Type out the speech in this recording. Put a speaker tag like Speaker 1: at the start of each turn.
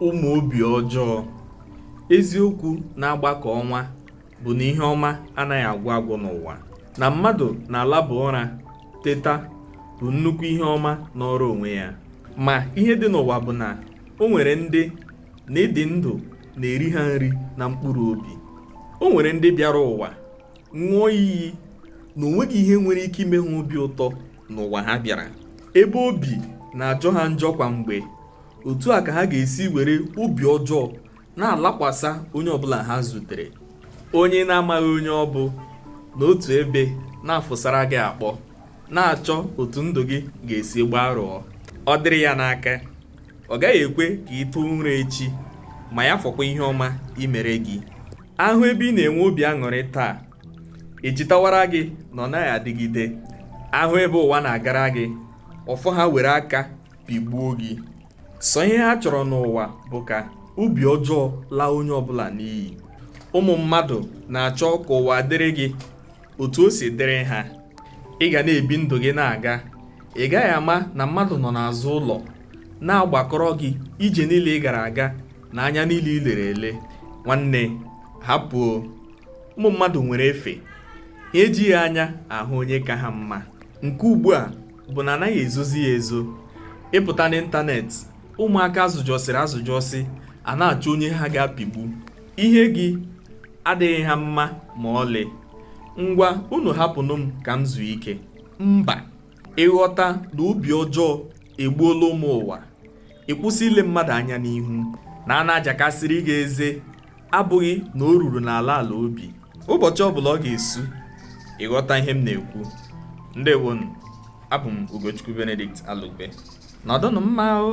Speaker 1: ụmụ obi ọjọọ eziokwu na-agba ka ọnwa bụ na ihe ọma anaghị agwụ agwụ n'ụwa na mmadụ na-alaba ụra teta bụ nnukwu ihe ọma nọọrọ onwe ya ma ihe dị n'ụwa bụ na o nwere ndị na ịdị ndụ na-eri ha nri na mkpụrụ obi o nwere ndị bịara ụwa ṅụọ iyi na o nweghị ihe nwere ike ime ha obi ụtọ n'ụwa ha bịara ebe obi na-ajọ ha njọ kwa mgbe otu a ka ha ga-esi were obi ọjọọ na-alakwasa onye ọbụla ha zutere onye ị na-amaghị onye ọ bụ nọ otu ebe na-afụsara gị akpọ na-achọ otu ndụ gị ga-esi gbarụọ ọ dịrị ya n'aka ọ gaghị ekwe ka ị tụọ ụra echi ma ya fọkwa ihe ọma imere gị a hụ ebe ị na-enwe obi aṅụrị taa e chetawara gị na ọ naghị adịgide a hụ ebe ụwa na-agara gị ọ fọ ha were aka pịgbuo gị sọ ihe ha chọrọ n'ụwa bụ ka obi ọjọọ laa onye ọbụla n'iyi ụmụ mmadụ na-achọ ka ụwa dịrị gị otu o si dịrị ha ị ga na-ebi ndụ gị na-aga ị gaghị ama na mmadụ nọ n'azụ ụlọ na-agbakọrọ gị ije niile ị gara aga na anya niile i lere ele nwanne hapụ ụmụ mmadụ nwere efe ha ejighị anya ahụ onye ka ha mma nke ugbu a bụ na a naghị ezozi ya ezo ị pụta n'ịntanetị ụmụaka a zụjọsịrị azụjọsị ana-achọ onye ha ga-apịgbu ihe gị adịghị ha mma ma ọlị ngwa unu hapụnụ m ka m zuo ike mba ị ghọta na obi ọjọọ egbuola ụmụ ụwa ị kwụsị ile mmadụ anya n'ihu na a na-ajakasịrị gị eze abụghị na o ruru n'ala ala obi ụbọchị ọbụla ọ ga-esu ị ghọta ihe m na-ekwu ndewonu abụ m Ugochukwu Benedict Alugbe nọdụnụ mma o